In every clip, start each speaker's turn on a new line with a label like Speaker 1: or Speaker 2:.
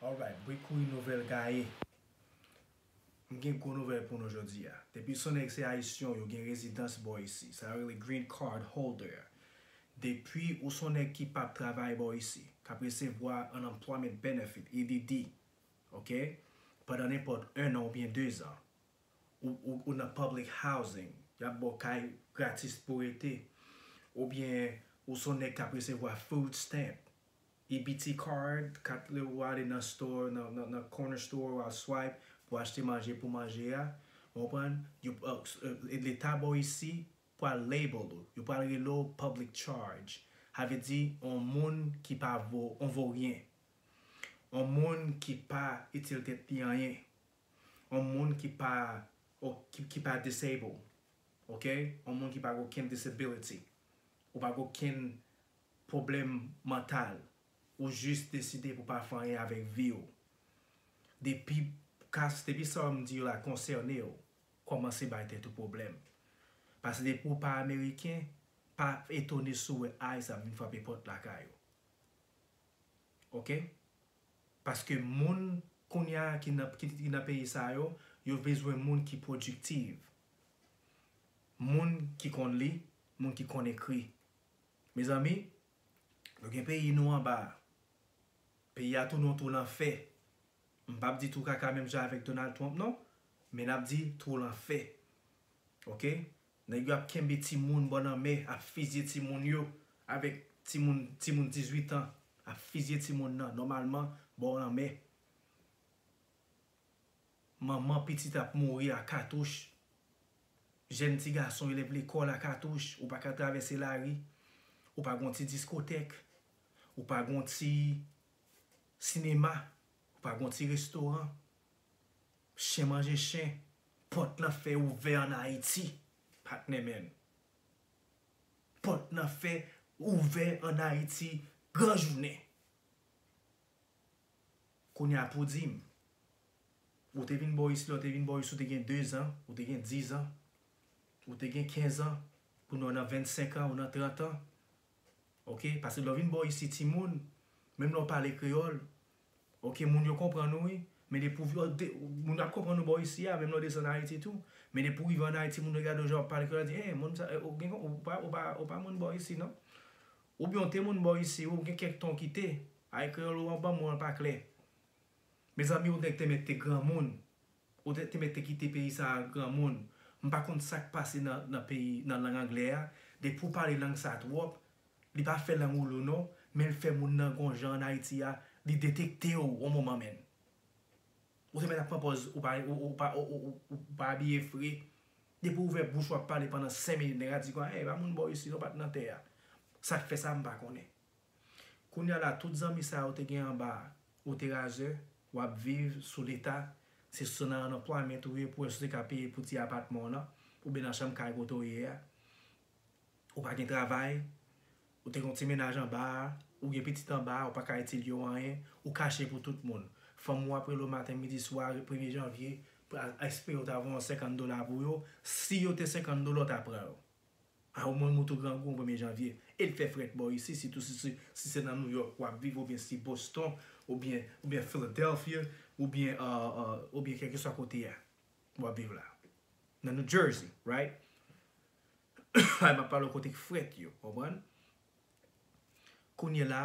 Speaker 1: Alright bri kouri nouvèl gaye. M gen gwo nouvèl pou nou jodi a. Depi son nèg se ayisyon yo gen rezidans bò isi, sa yo rele green card holder. Depi ou son nèg ki pap travay bò isi, k ap resevwa unemployment benefit, EBD, ok, pandan nenpòt 1 an oubyen 2 zan, ou ou nan public housing, y ap ba w kay gratis pou w rete, oubyen ou son nèg k ap resevwa food stamp, EBT card, kat le ou ale nan store nan corner store ou al swipe pou achte manje pou manje a ou konprann yo leta baw isi pral label ou yo pral rele w public charge sa vle di on moun ki pa vo on voryen on moun ki pa itil tèt li anyen on moun ki pa ki pa disable ok on moun ki pa gen okenn disability ou pa gen okenn pwoblèm mantal ou jis deside pou pa fè anyen avèk vi w depi kas depi sa m di yo la konsène w kòmanse bay tèt ou pwoblèm paske depi w pa ameriken pa etone si w wè ice ap vin frape pòt lakay ou ok paske moun kounya ki nan ki nan peyi sa yo yo bezwen moun ki pwodiktiv moun ki konn li moun ki konn ekri. Mezanmi Nou gen peyi Nou anba a peyi a tounen yon twou lanfè m pap di twou kaka menm jan avèk Donald Trump non men nap di twou lanfè ok nèg yo ap kenbe timoun bò lanmè ap fizye timoun yo avèk timoun timoun 18 ans ap fizye timoun nan nòmalman bò lanmè. Manman pitit ap mouri a katouch, jèn ti gason elèv lekòl a katouch, ou pa ka travèse lari, ou pa gen yon ti diskotèk, ou pa gen yon ti sinema, ou pa gen yon ti restoran, chen manje chen, pòt lan fè ouvè an Ayiti, patnè menn. Pòt lan fè ouvè an Ayiti gran jounen. Kounya pou dim ou te vin boris lè ou te vin boris ou te gen 2 zan ou te gen 10 zan ou te gen 15 zan kounya ou nan 25 an ou nan 30 zan ok paske lè ou vin boris si timoun menm lè ou pale kreyòl ok moun yo konprann ou wi men depi ou moun yo ap konprann ou boris si a menm lè ou desann ayiti tou men depi ou rive an ayiti moun yo gade ou jan wap pale kreyòl yo di e moun sa ou pa moun boris si non. Ou byen w te moun bò isi ou gen kèk tan w kite, ay kreyòl ou an banm ou an pa klè. Mezanmi ou nèg te mèt te granmoun, ou te te mèt te kite peyi sa a granmoun, m pa konn sa k pase nan nan peyi nan lang anglè a, depi w pale lang sa a twòp, li pa fè lang ou lou non, men l fè moun nan gon jan an Ayiti a, li detekte w on moman menn. Ou te mèt ap pran pòz ou pa ou pa abiye fre, Depi ou ouvè bouch wap pale pandan 5 minit nèg a di kwa e pa moun bò isi non pat nan tè a sak fè sa mpa konnen kounya la tout zanmi sa ou te gen anba ou te razè wap viv sou leta se sou nan nan pwa mèt ou ye pou wè si ou te ka peye pou ti apatman w nan oubyen nan chanm kay kote w ye a. Ou pa gen travay, ou te gen yon ti mennaj anba a, ou gen pitit anba a, ou pa ka itil yo anyen, ou kache pou tout moun. Fanm ou ap rele w maten, midi, swa, premye janvye, espere w ta voye yon senkann dola pou yo, si yo te senkann dola w ta pran yo. A ou menm ou tou grangou yon premye janvye. E l fè frèt bò isi, sitou si se nan Nouyòk w ap viv oubyen si Boston oubyen Philadelphia oubyen kèlkeswa kote a. wap viv la nan New Jersey right la map pale w kote k frèt yo konprann kounye la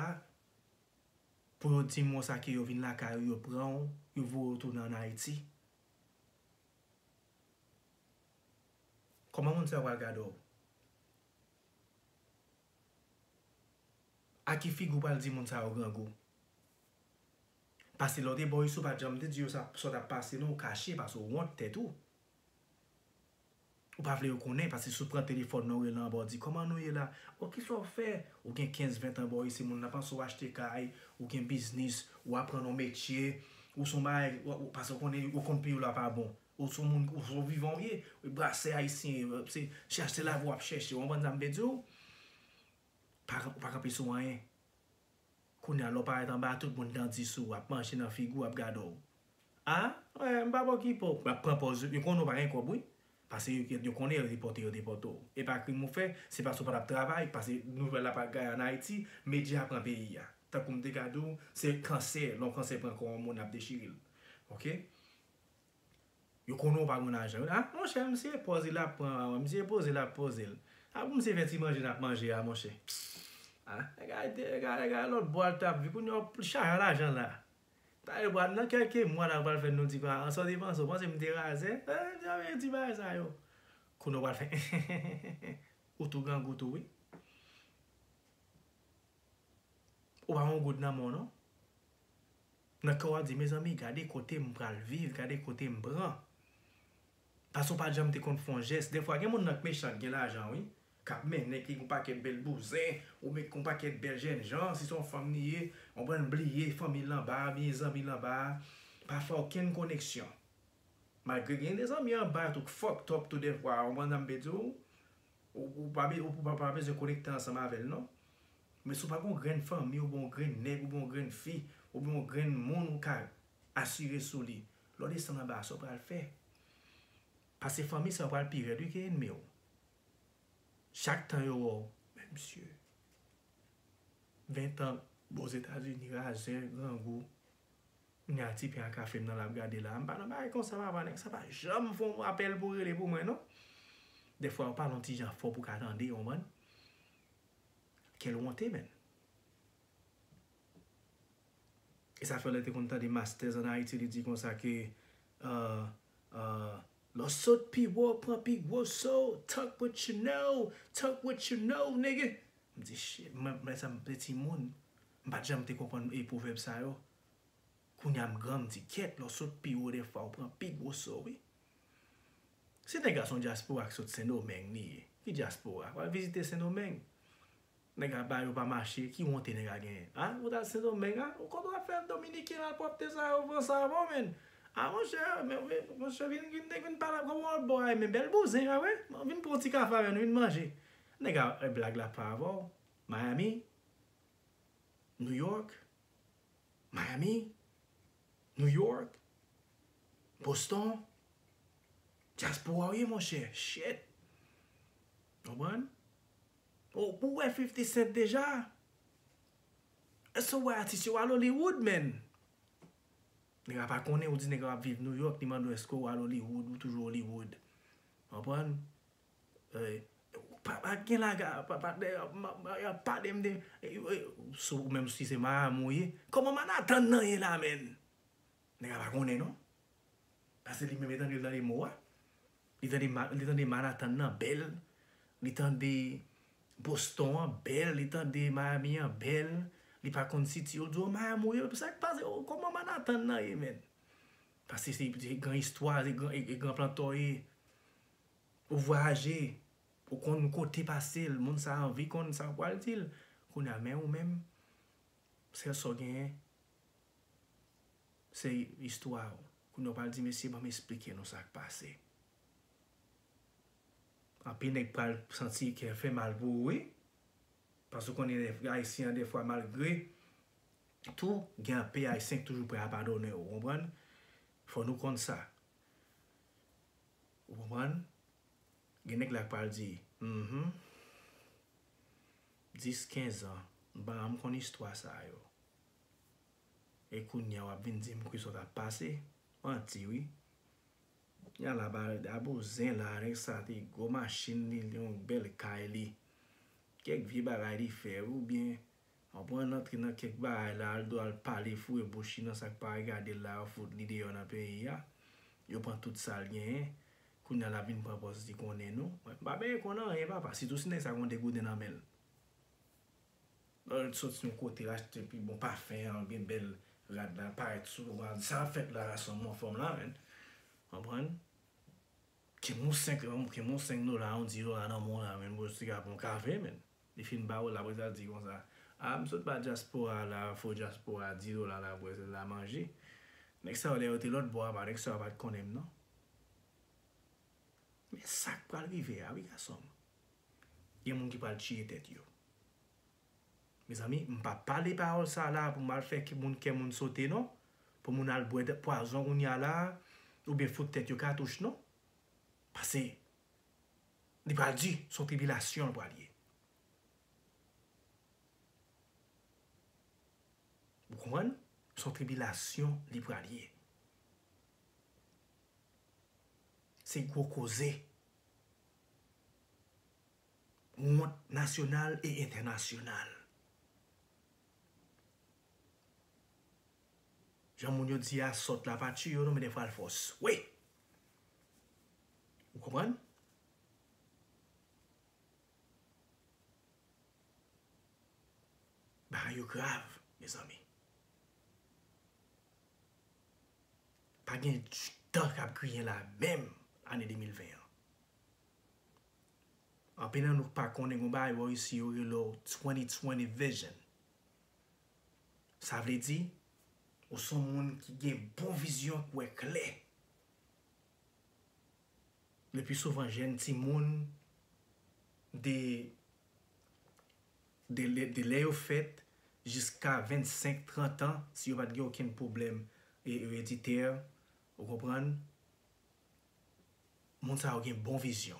Speaker 1: pou yo dim won sa ke yo vin lakay ou yo pran w yo voye w tounen an Haiti kòman moun sa yo pral gade w. A ki figi ou pral di moun sa yo grangou? Pase lè ou te bò ici ou pat janm te di yo sa w tap pase non ou kache pase ou wont tèt ou. Ou pa vle yo konnen pase si w pran telefòn nan ou rele anba ou di kòman nou ye la? O kisa w fè? Ou gen 15 20 tan bò ici moun nan panse ou achte kay, ou gen biznis, ou aprann yon metye, ou son bagay pase ou konnen ou konn peyi w la pa bon. Ou son moun ou son vivan ou ye. Ou brase ayisyen yo. Se chache lavi wap chache. Ou konprann sa m vle di ou? Ou pa kanpe sou anyen. Kounya lè w parèt anba tout moun dan di sou ou, ap mache nan figi w, ap gade w. A? Wè, m pa bon ki po. Wap pran pòz ou. Yo konnen ou pa gen kòb wi. Pase yo konnen yo depòte yo depòte w. E pa krim ou fè. Se pase ou pa tap travay. Pase nouvèl la pa gaye an Ayiti. Medya pran peyi a. Tankou m te gade ou, se kansè. Lè yon kansè pran kò yon moun ap dechire l. Ok? Yo konnen w pa konn ajan. Ah monchè misye pran pòz li lap pran a. Misye poze l ap poze l. Ah pou misye fè ti manje lap manje a monchè. Ah nèg a lòt bò al tap viv. Kounye a w chajan lajan la. Nan kèlke mwa la ou pral fè nou ti pa. Sa w te panse? Ou panse m te razè? Yon ti bagay sa yo. Kounye a w pral fè enhenhenhen. Ou tou grangou tou wi. Ou pa gen yon goud nan men w non. Nan kè w wap di mezanmi gade kote m pral viv gade kote m pran paske w pat janm te konn fon jès dèfwa gen moun nan k mechan k gen lajan wi kap mennen ki gen yon pakèt bèl bouzen ou met yon pakèt bèl jènjan si se yon fanm li ye konprann bliye fanmi l anba a oubyen zanmi l anba a pa fè okenn koneksyon malgre gen de zanmi anba tou k fòktòp tou dèfwa ou konprann sa m vle di w Ou pa bezwen konekte ansanm avè l non. Men si w pa gen yon grenn fanmi oubyen yon grenn nèg oubyen yon grenn fi oubyen yon grenn moun ou ka asire sou li, lè w desann anba a sa w pral fè? Pase fanmi sa yo pral pi rèd wi ke enmi w. Chak tan yo wè w, men msye. Ventan bo Zetazini razè, grangou. Kounya ti pen a kafem nan lap gade la. M pa nan bagay konsa papa nèg sa pa janm fon apèl pou rele pou mwen non. Dèfwa yo pale yon ti jan fò pou ka tande ou konprann. Quel wonte menn. E sa fè lè te konn tande masters an Ayiti li di konsa ke Lè w sot pi wo pran pi gwo so Talk what you know, talk what you know nigga M di shit mwen menm lè sa m te timoun. M pat janm te konprann pwovèb sa yo. Kounya m gran m di kyèt lè w sot pi wo dèfwa w pran pi gwo so wi. Se nèg la son dyaspora ki sot sendomeng li ye. Ki dyaspora? Wal vizite sendomeng. Nèg aba yo pa mache ki wonte nèg la genyen. A ou t al sendomeng a? Ou konn wap fè dominiken malpwòpte sa yo pran sa avè w menn. A monchè monchè vin vin nèg vin pale avè w wòl bò a men bèl bouzen a wi. Vin pran w ti kafe avè nou vin manje. Nèg la blag la pa avè w. Miami? New York, Miami, New York, Boston, Diaspora ou ye monchè, shit! Konprann? Ou wè 50 cent deja? Èske ou wè atis yo al Hollywood menn? Nèg la pa konnen ou di nèg la ap viv New York li mande w èske ou al Hollywood ou toujou Hollywood. Konprann? Papa gen laga papa yap palem de sou menm si se madam ou ye kòman manhattan nan ye la menn nèg la pa konnen non pase li menm li tande mo a li tande manhattan nan bèl li tande boston an bèl li tande miami an bèl li pa konn siti yo diw madam ou ye sak pase kòman manhattan nan ye menn pase se gran istwa se gran planto ye Ou vwayaje, ou konn kote pase l, moun sa anvi konn sa w pral di l. Kounye a men ou menm, sèl sa w genyen, se istwa w. Kounye a w pral di mesye ban m esplike nou sa k pase. Anpil nèg pral santi kè fè mal pou ou wi. Paske ou konnen ayisyen an dèfwa malgre tou, gen anpe ayisyen k toujou prè a padone w, ou konprann? Fò nou konn sa. Ou konprann? Gen nèg la k pral di, Mph. 10, 15 an m pa janm konn istwa sa yo. E kounya w ap vin di m kisa w t ap pase? Manti wi. Kounya la ba l da bouzen la, nèg sa te gwo machin li, li te yon bèl kay li. Kèk vye bagay li fè oubyen Apre an antre nan kèk bagay la Aldo al pale foure bouch li nan sak pa regadel la yo fout li deyò nan peyi a yo pran tout sal genyen kounya lap vin pran pòz li konnen nou mwen mpa benyen konn anyen papa sitou si nèg sa gon degouden nan menl Al soti yon kote achte pi bon pafen an gen bèl rad la parèt sou ou al di sa kap fèt la gason m anfòm la menn konprann kenbe yon 5 kenbe yon 5 dola yon 10 dola nan menw la menn bro siga pran yon kafe menn Li fin ba ou la apre sa l di konsa, A m sot ba dyaspora a la, fo dyaspora a 10 dola la apre l la manje. Nèg sa yo lè yo te lòt bò apa nèg sa yo pa t konnen m non. Men sa k pral rive a wi gason m. Gen moun ki pral tiye tèt yo. Mezanmi m pa pale pawòl sa la a pou m al fè moun kè moun sote non, pou moun al bwè pwazon kounye a la a oubyen fout tèt yo katouch non. Pase Li pral di, se yon tribilasyon li pral ye. Ou konprann? Se yon tribilasyon li pral ye. Se gwo koze. Wont nasyonal e entènasyonal. Jan moun yo di a, sòt la pa tiye yo non men dèfwa l fò swe. Ou konprann? Bagay yo grav, mezanmi. Pa gen tan k ap griyen la menm ane 2020 an. Anpil nan nou k pa konnen gen yon bagay yo resi yo rele w 2020 vision. Sa vle di, ou s on moun ki gen bon vizyon k wè klè. Lepi souvan jèn timoun de de lè yo fèt jiska 25, 30 an, si yo pa t gen okenn pwoblèm ereditè, ou konprann, moun sa yo gen bon vizyon.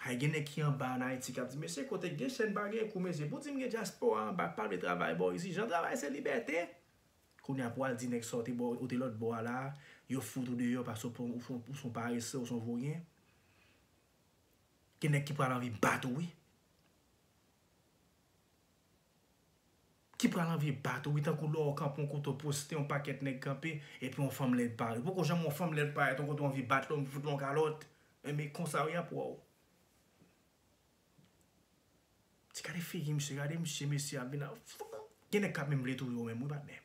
Speaker 1: Hay gen nèg ki anba an Ayiti kap di mesye kote gen chèn pa gen kou mesye pou dim gen dyaspora anba pa vle travay bò isi jan travay se libète kounya pou al di nèg sa ou te bò ou te lòt bò a la yo fout ou deyò paske ou pran ou son parese ou son voryen gen nèg ki pral anvi bat ou wi. Ki pral anvi bat ou wi tankou lè ou kanpe yon kote ou poste yon pakèt nèg kanpe epi yon fanm lèd pare ou poko janm wè yon fanm lèd parèt yon kote ou anvi bat li anvi fout li yon kalòt enben konsa wi ap wèw ti gade figi misye gade misye mesye ap vin gen nèg kap menm vle touye ou menm wi patnè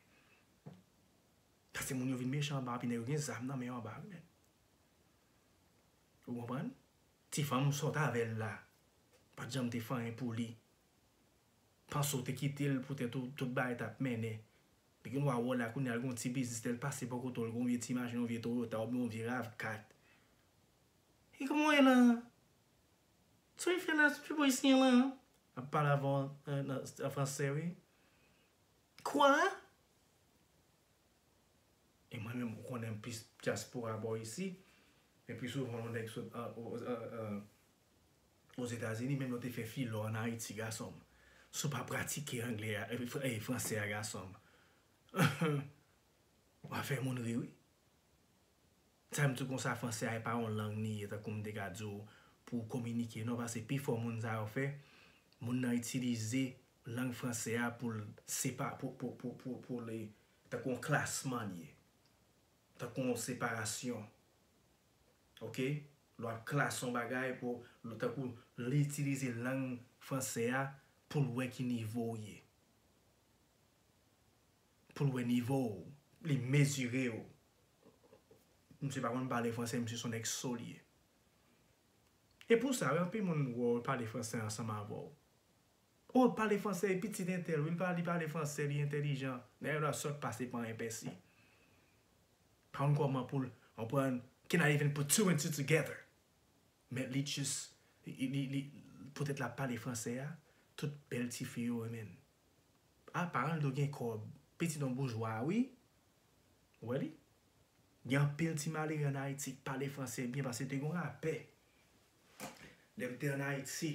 Speaker 1: paske moun yo vin mechan anba epi nèg yo gen zam nan men yo anba wi menn ou konprann ti fanm sot avèl la pat janm te fanyen pou li Panse w te kite l poutèt ou tout bagay t ap mennen bgy w a wè w la kounye a l gen yon ti biznis lè l pase bò kote w l gen yon vye ti machin yon vye toyota oubyen yon vye rav 4 e kòman w ye la a sa w vin fè la a se pou ayisyen an lan ap pale avè w an fransè wi kwa e mwen menm ou konnen m plis dyaspora bò isi men pi souvan yon nèg sot Ozetazini menm yo te fè filo an ayiti gasonm sou pa pratike anglè a e fransè a gasonm wap fè moun ri wi sa m di w konsa fransè a e pa yon lang li ye tankou m te ka di w pou w kominike non pase pi fò moun sa yo fè moun nan itilize lang fransè a pou l sepa pou pou pou pou pou li tankou yon klasman li ye tankou yon separasyon ok lè wap klase yon bagay pou tankou li itilize lang fransè a poul wè ki nivo ou ye poul wè nivo ou li mezire ou misye pa konn pale fransè misye son nèg so li ye e pou sa anpil moun wè ou pale fransè ansanm avèw oh li pale fransè li pitit entèl wi li pale fransè li entèlijan nèg la sòt pase pa enpèsi. pa konn kòman poul konprann kenari vin put two and two together men li just li poutèt lap pale fransè a tout bèl tifi yo renmenn ah paran l do gen kòb pitit yon boujwa wi ou wè li gen anpil ti malere an ayiti k pale fransè byen paske te gon lapè lèm te an ayiti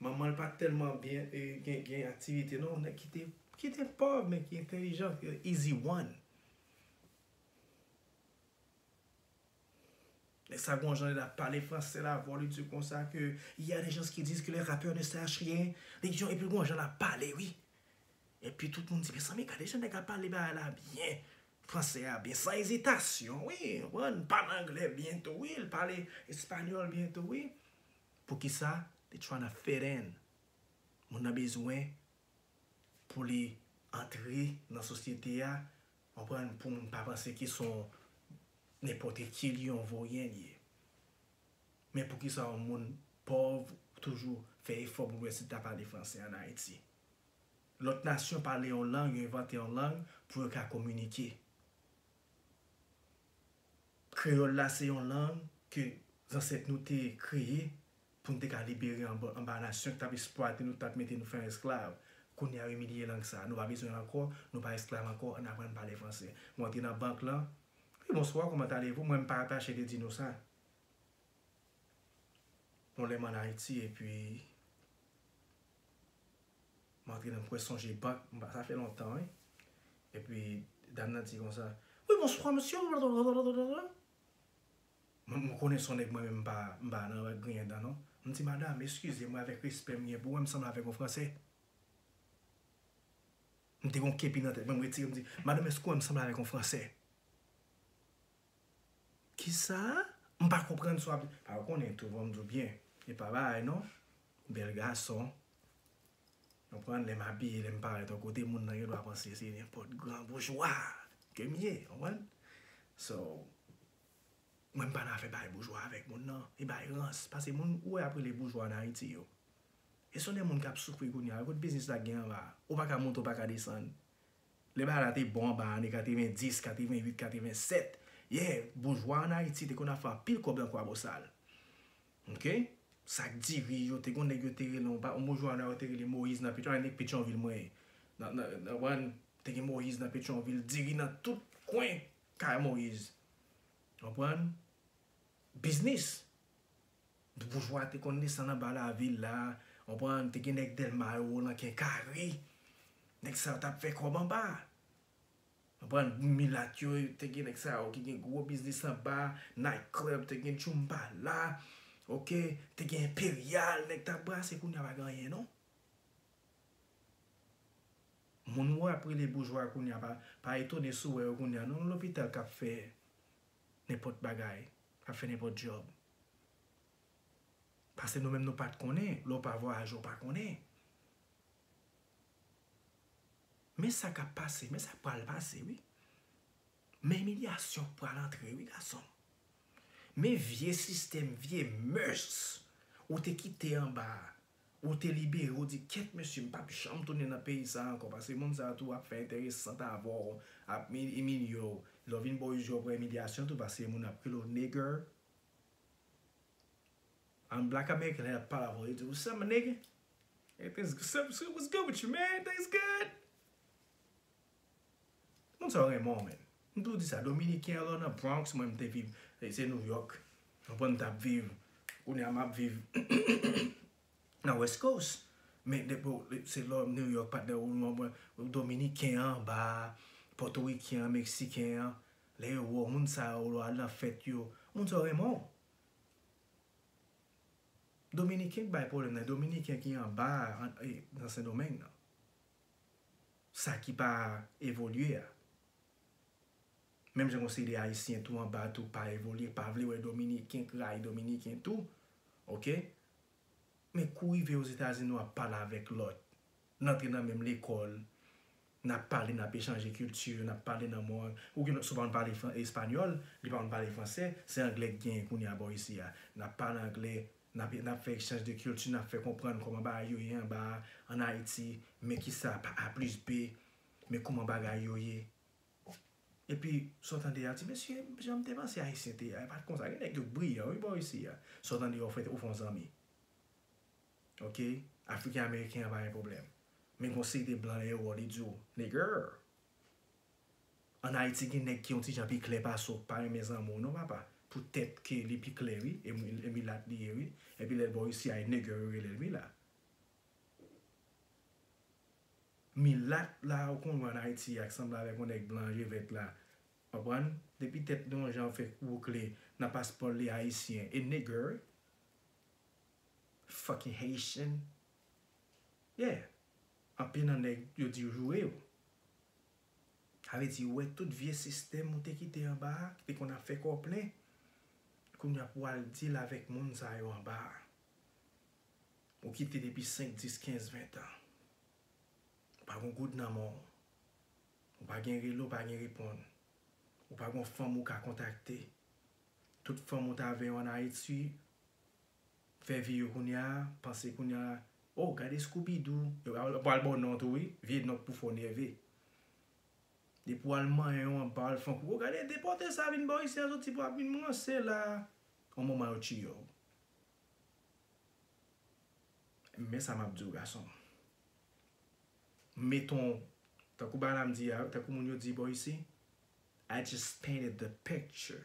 Speaker 1: Manmanl pa telman byen gen aktivite non nèg ki te pòv men ki entelijan se easy one nèg sa gon jan li ap pale fransè la vwa li di konsa ke il ya de gens ki diz ke le rapè ne sach ryen epi gon jan lap pale wi epi tout moun di mezanmi gade jan nèg la pale bagay la byen fransè a byen san ezitasyon wi ou konprann li pale anglè byen tou wi li pale espanyòl byen tou wi. Poukisa they tryna fit in moun nan bezwen pou li antre nan sosyete a konprann pou moun pa panse ke son nenpòtre ki li yon voryen li ye men poukisa yon moun pòv toujou fè efò pou wè si li ta pale fransè an ayiti lòt nasyon pale yon lang yo envante yon lang pou yo ka kominike. Kreyòl la se yon lang ke zansèt nou te kreye pou n te ka libere anba nasyon ki t ap esplwate nou, ki t ap mete nou fè an esklav. Kounye a yo imilye lang sa a. Nou pa bezwen l ankò, nou pa esklav ankò, ann aprann pale franse. Mwen antre nan bank lan, Wi, bonswa, comment allez-vous? Mwen m pa atache de di nou sa. Yon lè m ann Ayiti epi. M antre nan mwen sonje bank sa fè lontan wi epi dam nan di konsa wi bonswa mesye m konnen son nèg mwen menm m pa nan griyen dan non m di madam eskize mwen avèk respè m gen pou mwen m sanble avèk yon fransè m te gen yon kepi nan tèt mwen m retire m di madam èske w wè m sanble avèk yon fransè. Kisa? M pa konprann sa w ap di. A ou konnen tou fò m di w byen. E pa bagay non. Bèl gason. Konprann? Lè m abiye, lè m parèt yon kote, moun nan gen dwa panse se nenpòt gran boujwa ke m ye. Konprann? So, mwen m pa nan afè bay boujwa avèk moun nan. E bay rans. Pase moun ou wè y ap rele boujwa ann Ayiti yo, e se yon de moun k ap soufri kounye a. Kote biznis la gen anba a? Ou pa ka monte, ou pa ka desann. Lè bagay la te bon anba ane 90, 88, 87, yeah, boujwa an Ayiti te konn ap fè anpil kòb lan Kwabosal. Ok. Sak diri yo, te gon nèg yo te rele, yon pa, yon boujwa anwa yo te rele Moyiz nan Petyon, nèg Petyonvil mwen ye. Nan, nan, nan, konprann? Te gen Moyiz nan Petyonvil, diri nan tout kwen kay Moyiz. Konprann? Biznis! Boujwa te konn desann anba lavil la, konprann, te gen nèg Dèlma yo, nan Kè Kare, nèg sa yo tap fè kòb anba. Konprann, milat yo, te gen nèg sa yo ki gen gwo biznis anba, Night Club, te gen Djoumbala, ok, te gen Imperial, nèg tap brase, kounya pa gen anyen non. Moun ou ap rele boujwa kounya pa etone si w wè yo kounya non, nan lopital kap fè nenpòt bagay. Nap fè nenpòt djòb. Pase nou menm nou pat konnen, lè w pa vwayaje w pa konnen. Men sa kap pase, men sa k pral pase wi. Men imilyasyon k pral antre wi gason m. Men vye sistèm, vye mœurs ou te kite anba a Ou te libere ou di kèt mesye m pap janm tounen nan peyi sa ankò pase moun sa tou ap fè enterè sant avè w ap imilye w lè w vin bò uzi w pran imilyasyon tou pase moun ap rele w nigger an black american lè yap pale avè w yo di w what's up my nigger what's good with you man everything is good. Moun sa yo renmen w menn. M toujou di sa dominiken alò nan bronx mwen m te viv se new york ou konprann m tap viv kounye a map viv nan west coast men depi w se lò new york pat nan ou konprann m dominiken an anba potoriken an meksiken an lè yo wè w moun sa yo lè w al nan fèt yo moun sa yo renmen w dominiken k bay pwoblèm nan dominiken ki anba nan sendomeng nan. sa ki pa evolye a. Menm jan konseye de ayisyen tou anba tou pa evolye pa vle wè dominiken k rayi dominiken tou ok men kou rive ozetazini wap pale avèk lòt n antre nan menm lekòl n ap pale n ap echanje kilti n ap pale nan mòn ou gen lòt si w pa konn pale espanyòl li pa konn pale fransè se anglè k genyen kounye a bò isi a n ap pale anglè N ap fè ekchanj de kilti, n ap fè konprann kòman bagay yo ye anba a, ann Ayiti, men ki sa pa a plis be, men kouman bagay yo ye. Epi, sa w tande a, ti mesye, jan m te panse Ayisyen te ye a, e pa t konsa. Gen nèg yo briyan wi bò isi a. Sa w tande a, w fè, w fè yon zanmi. Ok, Afriken-Ameriken an pa gen pwoblèm. Men gen yon seri de blan dèyè w, li di w, Nigger! An Ayiti gen nèg ki yon ti jan pi klè pase w k pa renmen zanmi w non papa pou tèt ke li pi klè wi e milat li ye wi epi lè l bò isi ay nègè yo rele l mila milat la ou konn wè an Ayiti a k sanble avèk yon nèg blan je vèt la konprann depi tèt li yon jan fè woukle nan paspò l li ayisyen e nègè wi fucking Haitian. Yeah anpil nan nèg yo diw joure yo. Sa vle di ou wè tout vye sistèm ou te kite anba a ki te konn ap fè kò plen kounye a pou wal deal avèk moun sa yo anba a ou kite depi 5 10 15 20 tan ou pa gon goud nan menw ou pa gen rele ou pa gen reponn ou pa gon fanm ou ka kontakte tout fanm ou t avè yo an Ayiti fè vi yo kounya panse kounya oh gade scoubidou yo pral baw non tou wi vye non pou fè w nève depi wal manyen yon anba wal fè yon koukou gade depòte sa vin baw isi a soti pou ap vin ranse la yon moman yo tiye w men sa map diw gasonm meton tankou balam di a tankou moun yo di baw isi I just painted the picture.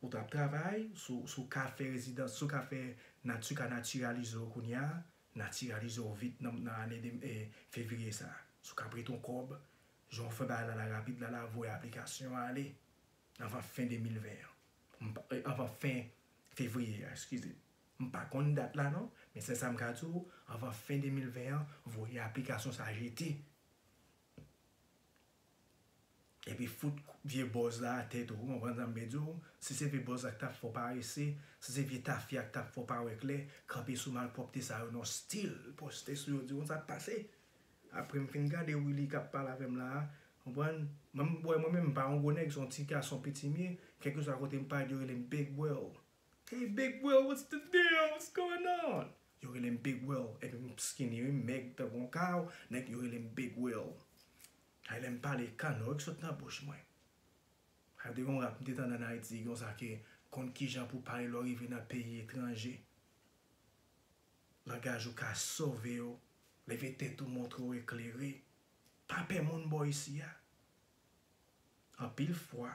Speaker 1: Ou tap travay sou sou ka fè rezidans sou ka fè natu ka naturalize w kounya naturalize w vit nan nan ane 2 e fevriye sa sou ka prete w kòb jan w fè bagay la la rapid la la voye aplikasyon an ale anvan fen 2020 an m pa anvan fen fevriye a eskize m pa konn dat la non men sèl sa m ka di w anvan fen 2020 an voye aplikasyon sa jete. Epi fout vye bòz la atè tou ou konprann sa m vle di w si se vye bòz la k tap fè w parese si se vye tafya k tap fè w pa wè klè kanpe sou malpwòpte sa yo non stil poste sou yo di w sa k pase aprè m fin gade Willy kap pale avè m la a konprann mwen m bwè mwen menm m pa yon gwo nèg se yon ti gason piti m ye kèlkeswa kote m pale yo rele m big will. Hey big bro what's the deal what's going on yo relem big will epi m skinny wi m mèg tankou yon kaw nèg yo relem big will hay lèm pale kanò yo k sot nan bouch mwen hay te gen yon rap m te tande an ayiti konsa ke konn kijan pou pale lè w rive nan peyi etranje langaj ou ka sove w leve tèt ou montre w eklere pa pè moun bò isi a anpil fwa.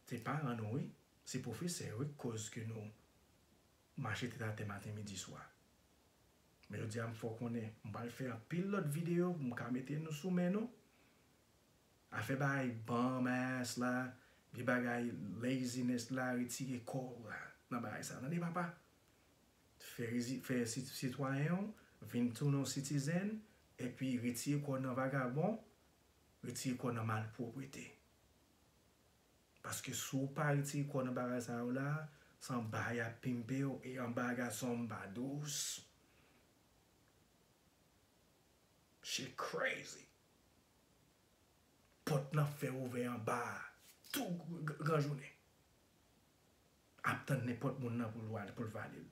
Speaker 1: Se paran nou wi, se pwofesè yo wi k koz ke nou mache tèt atè maten midi swa. Men jodi a m fè w konnen, m pral fè anpil lòt videyo pou m ka mete nou sou men nou. Afè bay bum ass la, vye bagay laziness la retire kò w la nan bagay sa tande papa. Fè rezi fè sitwayen w vin tounen w sitizen epi retire kò w nan vagabon, retire kò w nan malpwoprete. Paske si w pa retire kò w nan bagay sa yo la, se anba y ap pimpe w e anba gason m pa dous. Shit crazy! Pòt lan fè ouvè anba a tou gran jounen. Ap tann nenpòt moun nan pou l vale l.